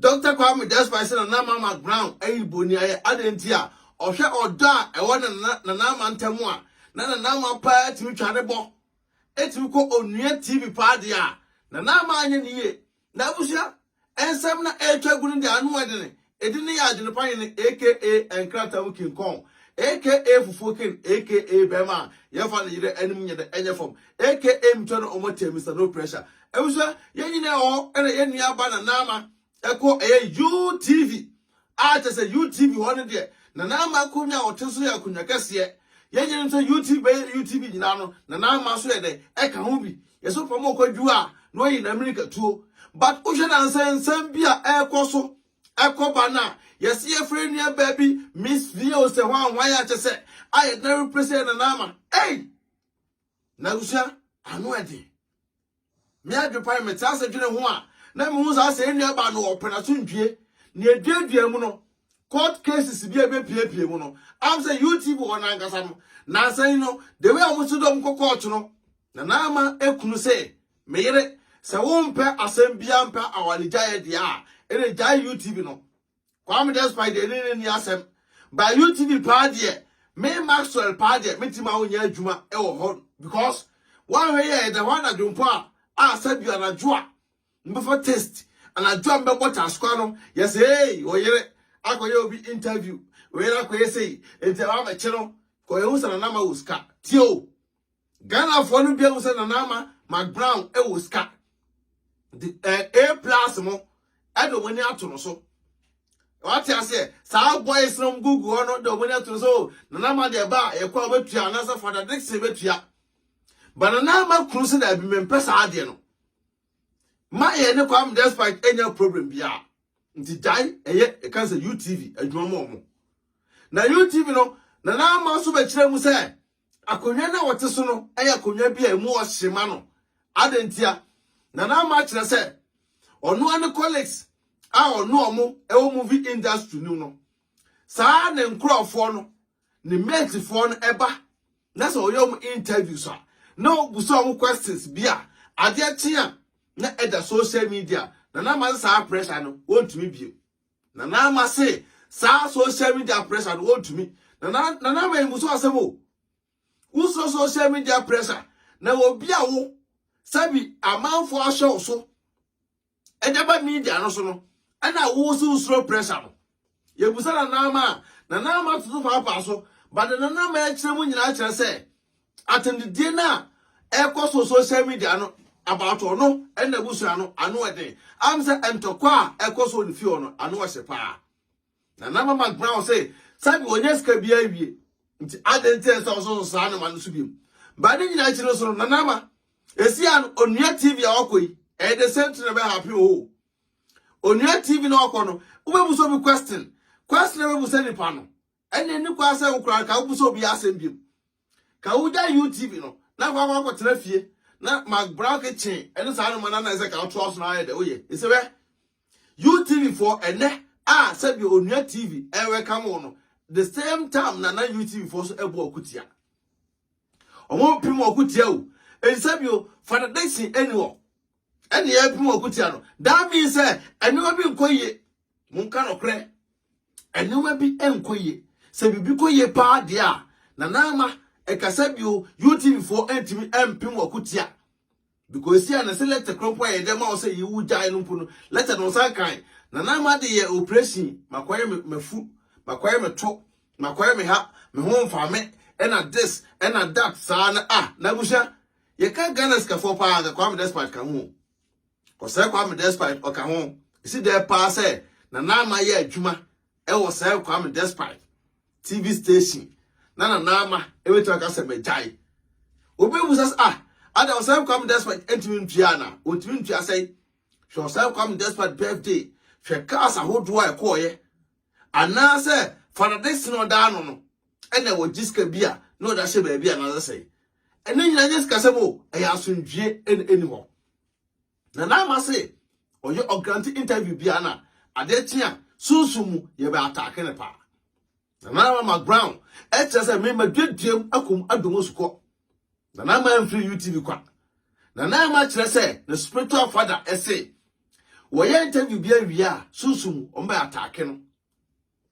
Dɔkta Kwame Despite sɛ Nana Ama ma Brown yɛ bonniayɛ adɛn nti a, ɔhwɛ ɔdɔ a ɛwɔ ne ne Nana Ama ntam a, na Nana Ama paa tumi twa ne bɔ tumi kɔ onua TV paa deɛ a, Nana Ama anyɛ ne yie. N'abusua nsɛm na ɛretwa gu no deɛ ano yɛ den, Edin no yɛ Adwenepa Hene aka Nkrataa mu King Kong aka Fufuo King aka Bɛɛma a yɛfa ne yerɛ anim nyɛ dɛ ɛnyɛ fam aka Mitwa no ɔmɔ tɛɛ Mister No Pressure Abusua yɛn nyinaa wɔ hɔ ɛna yɛn nua ba Nana Ama ɛkɔ ɛyɛ UTV a kyɛ sɛ UTV hɔ no deɛ Nana Ama akonwa a ɔte so yɛ akonwa kɛseɛ yɛn nyinaa nim sɛ UTV bɛyɛ UTV nyinaa no Nana Ama nso yɛ dɛ ɛka ho bi Yɛsɛ ɔpɛ ma ɔkɔdwuo a na ɔyi n'amirikatuo. But wohwɛ no ansɛ nsɛm bi a ɛrekɔ so ɛkɔ ba no a, yɛsɛ yɛfrɛ yɛn nuabaa bi Miss Vio sɛ hwan hwan a kyɛ sɛ a yɛde no replace yɛn nana ama. Ei! Na abusua, ano ɛden. Me adwepan mete ase dwene ho a, na mehu saa sɛ yɛn nuabaa no ɔpɛ n'asomdwie. Na yɛduadua mu no, court cases bi a ɛbɛpiepie mu no, am sɛ UTV wɔ no ankasa no, nansa yi no, the way a wɔsi dɔm kɔ court no, Na na ama ekunu se, Me yere, sɛ wompɛ asɛm biara mpɛ awaregyaeɛ deɛ a, ɛne gyae UTV no. Kwame Despite deɛ ɛne no nni asɛm. But UTV paa deɛ, me Maxwell paa deɛ, mɛtumi ma wonyɛ adwuma wɔ hɔ because woanhwɛ yɛ ɛda hɔ anadwo mpo a, a sɛbi anadwo a mbɛfa taste, anadwo a mbɛbɔ taskoa no, yɛsɛ ei, oyere akɔyɛ obi interview, oyere akɔyɛ sei, nti ɛma mɛkye no, kɔ yɛhu sɛ nanama wɔ sika. Tie o! Ghanafoɔ no bi ahu sɛ Nana Ama McBrown wɔ sika. De ɛɛ A plus mo ɛde wɔn ani ato no so. Wate aseɛ saa boys no wɔn gugu hɔ no de wɔn ani ato no so oh, Nana Ama deɛ ba a yɛkɔ a wɔbɛtua anaasɛ Fada Dixon bɛtua. Ba Nana Ama kunu sɛ daabi mempɛ saa adeɛ no. Ma yɛn ne Kwame Despite anya problem biara. Nti gyae ɛyɛ ɛka sɛ UTV adwuma mu wɔn. Na UTV no Nana Ama nso bɛkyerɛ mu sɛ Akonnwa no a wɔte so no yɛ akonnwa bi a emu wɔ hye ma no. Adɛn ntia? Nana Ama akyerɛ sɛ ɔno ara ne colleagues a ɔne wɔn wɔ movie industry no mu no, saa ara ne nkurɔfoɔ no, ne matefoɔ no ba na sɛ ɔyɛ wɔn interviews a, na ɔbusa wɔn questions bi a adeɛ kye a na ɛda social media. Nana Ama sɛ saa pressure no, wɔntumi bio. Nana Ama se saa social media pressure no wɔntumi. Nana Nana Ama mmuso asɛm o. Wosoro social media pressure na obi a wo sɛbi amanfo ahyɛ wo so ɛde ba media no so no ɛna wo so wosoro pressure no. Yɛbusa Nana Ama a Nana Ama toto paapaa so but Nana Ama akyerɛ mu nyinaa kyerɛ sɛ Atɛmdidie no a ɛkɔ so social media no about ɔno ɛna abusua no ano ɛden. Am sɛ ntɔkwa a ɛkɔ so ne fie hɔ no ano ɛhye paa. Na na mama gbra wɔ sɛ sɛbi wɔnyɛ sika bi awie. Nti adɛn nti ɛsɛ ɔso so saa nneɛma no so biom. Ba ne nyinaa akyi no so no na nama esi a no onua TV a ɔkɔ yi ɛyɛ the same thing na ɛbɛ happen o. Oh. Onua TV na ɔkɔ no wobɛbu so bi question. Question na ɛbɛbu sɛ nipa no Ɛnde nni kwan sɛ wo koraa nka wobisa obiara asɛm bio. Ka wugyae UTV no na woakɔ akɔtena fie na Mark Brown kitchen ne saa nneɛma no ana ɛsɛ ka wotoa so na ayɛ dɛ woyɛ. Ese wɛ. UTV foɔ ɛnɛ a sɛdeɛ onua TV ɛwɛkam wo no the same time na na UTV foɔ so ɛbɔ ɔko tia. Ɔmo pim ɔko tia o. Ɛnsɛ bio Father Dixon ɛni hɔ ɛne ɛpem ɔko tia no. That means sɛ ɛnneɛma bi nkɔ yie Monka nokorɛ, nneɛma bi nkɔ yie. Sɛ biribi kɔ yie paa deɛ a, Nana Ama, ɛkasa bio, UTV foɔ antumi ampem wɔ ko tia. Because esi a na sɛ letter koro mpo a yɛde ama wo sɛ yiwu gyae no mpo no, letter no nsa nkae. Nana Ama de yɛ operation, makɔyɛ me mafu, makɔyɛ me to, makɔyɛ me ha, me ho mfa me, ɛna this, ɛna that saa na ah, na abusua, yɛka Ghana sikafoɔ paa, anka Kwame Despite ka ho. Osei Kwame Despite ɔka ho. Esi dɛn paa sɛ Nana Ama yɛ adwuma wɔ Osei Kwame Despite TV station na Nana Ama betumi aka sɛ magyae. Obi bebisa sɛ ah, ada Osei Kwame Despite ntumi ntua ana? Ontumi ntua sɛe. Hwɛ Osei Kwame Despite birthday, hwɛ cars ahodoɔ a ɛkɔɔeɛ. Anaasɛ Father Dickson na ɔda ano no, ɛna ɛwɔ gye sika bi a na ɔde ahyɛ baabi anaasɛ sɛn. Ɛno nyinaa nyɛ sikasɛm o, ɛyɛ asomdwie na ɛni hɔ. Na na ama se ɔyɛ ɔgrante interview bia na adeɛ kye a sunsum mu yɛbɛ ataake ne paa. Na na ama ma ground ɛkyerɛ sɛ me maduaduam akum adomo sukɔ. Na na ama mfiri UTV kwa. Na na ama kyerɛ sɛ ne spiritual father ɛse wɔyɛ interview bi awie a sunsum mu wɔbɛ ataake no.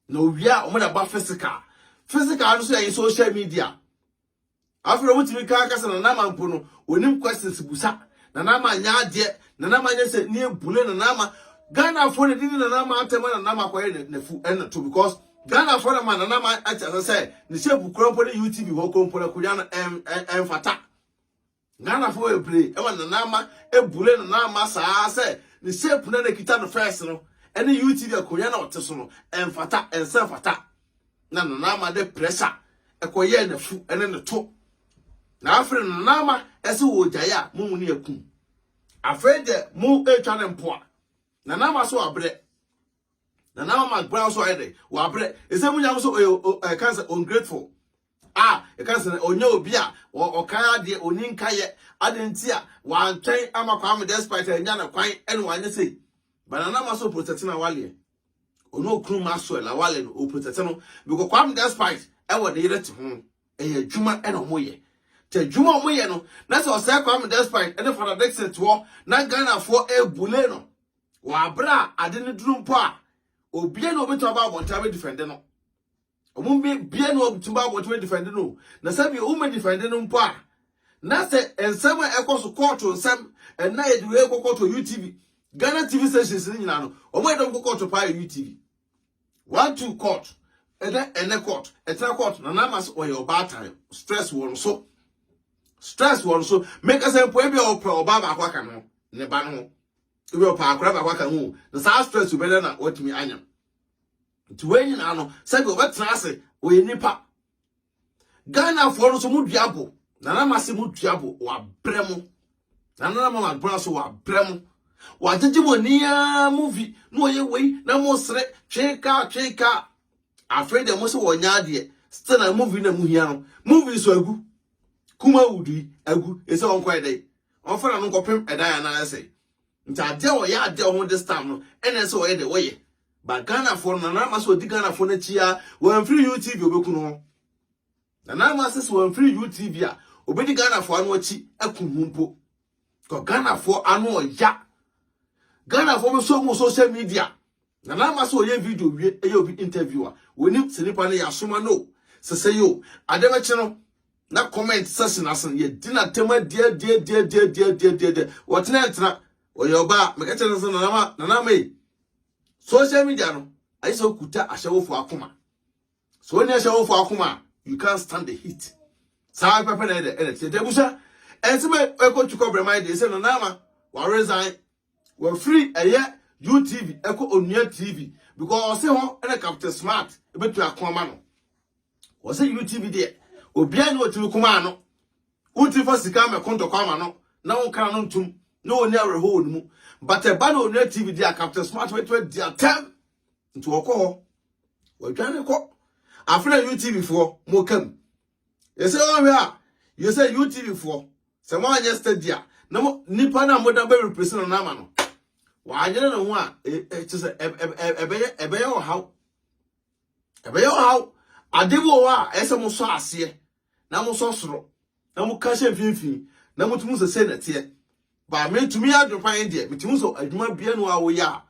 Na owie a wɔde aba physical. Physical no so yɛ social media. Afei wɔn tumi kaa kasa na nama mpo no wɔnim questions busa na nama nyɛ adeɛ na nama nyɛ sɛ ne ebule na nama Ghana fo na dini na nama atɛm na nama kɔyɛ na na fu ɛna to because Ghana fo na ma na nama ɛkyɛ sɛ sɛ ne hyɛ bukura mpo ne UTV hɔ kɔmpo na kunya no ɛmfata Ghanafo bebree ma Nana Ama bure Nana Ama saa sɛ ne shape no a na ɛkita no first no ne UTV akonnwa no a ɔte so no ɛmfata, ɛnsɛ mfata. Na Nana Ama de pressure ɛkɔyɛɛ n'afu ne ne to. Na afei Nana Ama ɛsɛ wɔ ogyae a mo mu ne akum. Afei deɛ mo ɛretwa ne mpoa. Nana Ama so abrɛ. Nana Ama McBrown so ayɛ dɛ, wabrɛ. Ɛsɛ mo nya mo so ɔyɛ ɛka sɛ ungrateful. A Yɛka sɛ ɔnyɛ obi a ɔkae adeɛ, ɔni nkaeɛ. Adɛn nti a wantwɛn ama Kwame despite annya no kwan ne wanyɛ sei? But Nana Ama so protect no awaleɛ. Ɔne okunu Maxwell awale no ɔprotect no because Kwame despite ɛwɔ ne yere te ho no ɛyɛ adwuma ɛna ɔmo yɛ. Te adwuma ɔmo yɛ no na sɛ ɔsɛe Kwame despite ɛne Fada Dixon te hɔ na Ghanafoɔ ɛbule no wɔ abere a ade no duru mpo a obia na obetumi aba abɔnten abɛdifɛnde no. Wɔn bi bia na wɔtumi ba abɔnten defend no na sɛbi wɔn defend no mpo a na sɛ nsɛm a ɛkɔ so kɔɔto nsɛm ɛna yɛde wei kɔ kɔɔto UTV Ghana TV stations no nyinaa no wɔn a yɛde wɔn kɔ kɔɔto paa yɛ UTV one two court ɛdɛ ɛnɛ court ɛtena court na n'ama so wɔyɛ ɔbaatan stress wɔn so stress wɔn so mekasa mpo ebi a ɔpɛ ɔbaa baako aka no ne ba no ebi ɔpɛ akora baako aka ho na saa stress bɛdɛ na wɔtumi anya. nti wei nyinaa no sɛdeɛ wɔbɛtena ase wɔyɛ nnipa ghanafoɔ no so mu dua bo nana ma se mu dua bo wɔabrɛ mo nana ma mabrɛ so wɔabrɛ mo wɔagyegye mo ani ara movi na wɔyɛ wei na mo sere twee kaa twee kaa afei deɛ mo se wɔnyɛ adeɛ still na movi na mo hia no movi so agu kuma wudi agu ɛsɛ wɔnkɔ ɛdɛn wɔmfa na no nkɔpem ɛdan anaa ɛsɛ nti adeɛ a ɔyɛ adeɛ a ɔmo this time no ɛna ɛsɛ ɔyɛ deɛ ɔyɛ ba ghanafoɔ no nana ama sɛ ɔdi ghanafoɔ no akyi a wɔamfiri utv ɔbɛku no hɔ nana ama sɛ sɛ wɔamfiri utv a ɔbɛdi ghanafoɔ ano akyi aku ho mpo kɔ ghanafoɔ ano ɔya ghanafoɔ bɛsɔ mu social media Na na ama sɛ ɔyɛ video wie ɛyɛ obi interview a wɔnim sɛ nipa no yɛ asoma no o sɛ sɛ yo ade bɛkye no na comment section ase no yɛdi no atɛm adiadiadiadiadiadiadiadiadiɛ wɔtena ntena ɔyɛ ɔbaa meka kyerɛ no sɛ nanama nanama yi social media no ayɛ sɛ wokuta ahyɛwofo akoma sɛ wonni ahyɛwofo akoma a you can't stand the heat saa pɛpɛ na ɛdɛ ɛdɛ tiɛ dɛ busa ɛnsɛ mɛ ɛkɔ tukɔ brɛma yi deɛ sɛ nanama wa resign Wafiri ɛyɛ UTV ɛkɔ Onua TV because ɔse hɔ ɛna Captain Smart ɛbɛtu ako ama no. Ɔse UTV deɛ obiara ne ɔtumi kuma ano. Wotumi fa sika mɛko ntɔkwa ama no na wonkana no ntum na ɔni awerɛho wɔ ne mu. But ɛba na Onua TV deɛ Captain Smart bɛtumi adi atɛm nti wɔkɔ hɔ. Wɔdwane kɔ. Afei na UTV foɔ mokam. Yɛsɛ wɔhwɛ a yɛ sɛ UTV foɔ sɛ mo anyɛ steady a na mo nipa na mo da bɛ replace no na ama no wɔanyere ne ho a ɛkyɛ sɛ ɛbɛyɛ ɛbɛyɛ ɔhaw ɛbɛyɛ ɔhaw ade bi wɔ hɔ a ɛsɛ mo sɔ aseɛ na mo sɔ soro na mo ka hyɛ mfimfini na mo tumi sɛ sɛ nɛteɛ baa me tumi adwopa yɛn deɛ me tumi sɛ adwuma bia no a wɔyɛ a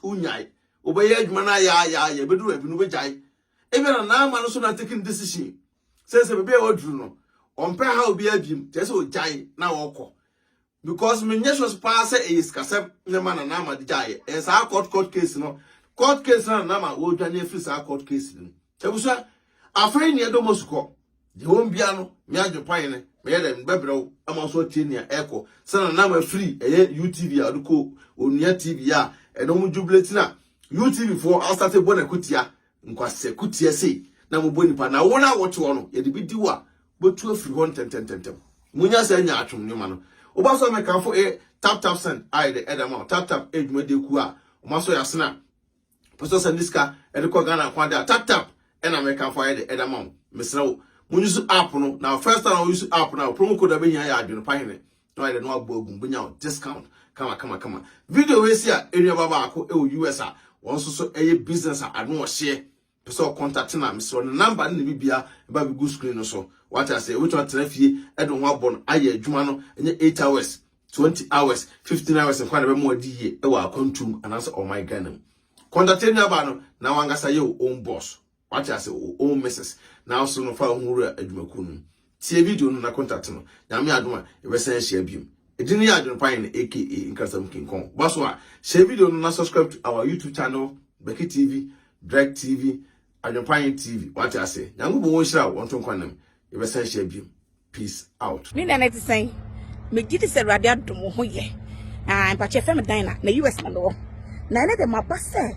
Wonyae. Wobɛyɛ adwuma no ayaayaaya, ɛbɛduru baabi no wobɛgyae. Ebia na Naama no so na taking decision sɛ sɛ baabi a waduru no, ɔmpɛ ha obi abim, kyerɛ sɛ ɔgyae na ɔkɔ. Because menyɛ sure paa sɛ ɛyɛ sikasɛm na ɛma na Naama de gyaeɛ. Ɛyɛ saa court court case no, court case no na Naama wɔredwane afiri saa court case no mu. Abusua, afei nea ɛdɔ mo asukɔ. Deɛ ɛwɔ mu biara no, me adwempa yɛ no, mɛyɛ dɛn, mebɛbrɛ wo ama wo nso atie nea ɛrekɔ. Sɛnea na mafiri ɛyɛ UTV a ɔde kɔ Onua TV a ɛno wɔn jubilate na UTV foɔ asate bɔ no akutia, nkwasɛ kutia sei na mobɔ nipa na wɔn a wɔte hɔ no yɛde bi di wo a bɛtu afiri hɔ ntɛntɛntɛntɛm. Monya saa nyaatwom nneɛma no. Woba so a mɛkamfo ɛyɛ Tap Tap Send a yɛde ɛda ma wo, Tap Tap ɛyɛ dwumadie kuo a wɔn asɔ yɛ asene a Wopɛ sɛ ɔsan de sika de kɔ Ghana nko ade a, tap tap ɛna Americanfo ayɛ de ɛda ma wo. Mesrɛ wo, mo use app no, na first time wo use app no a, promo code a wobɛhia yɛ adwene pa hene. Na wayɛ dɛ na wabɔ agu mu, wobɛnya wo discount kama kama kama. Video wei si a, ɛnuaba baako ɛwɔ US a, wɔn nso so ɛyɛ business a ano ɔhyeɛ. pɛ sɛ ɔkɔntate no a, mesrɛ wo, ne number ne ne biribiara, ɛba a bɛgu screen no so. Wate aseɛ? Wobɛtumi atena fie de wo ho abɔ no ayɛ adwuma no, ɛnyɛ eight hours, twenty hours, fifteen hours nko a na ɛbɛma wadi yie wɔ akwantu mu anaasɛ ɔman Ghana mu. Kɔntate nuabaa no na wankasa yɛ wo own boss. Wate aseɛ? Wo own missus. Na wo so no fa wo ho wura adwumakuo no mu. Tsie video no na contact no. Nyame adom a, yɛbɛsan ahyia biom. Edin no yɛ Adwenpa Hene aka Nkrasɛm King Kong. Boa so a, share video no na subscribe to our YouTube channel, Becky TV, Drake TV, Adwenpa Hene TV. Wate aseɛ? Nyankopɔn ɔnhyira wo, ɔnto nkwa nam. Yɛbɛsan ahyia biom. Peace out. Me nana te sɛn? Me gye di sɛ Awurade adom ho yɛ. Ah, mpakyɛ fɛ me dan na na US na mewɔ. Na ɛne de maba sɛ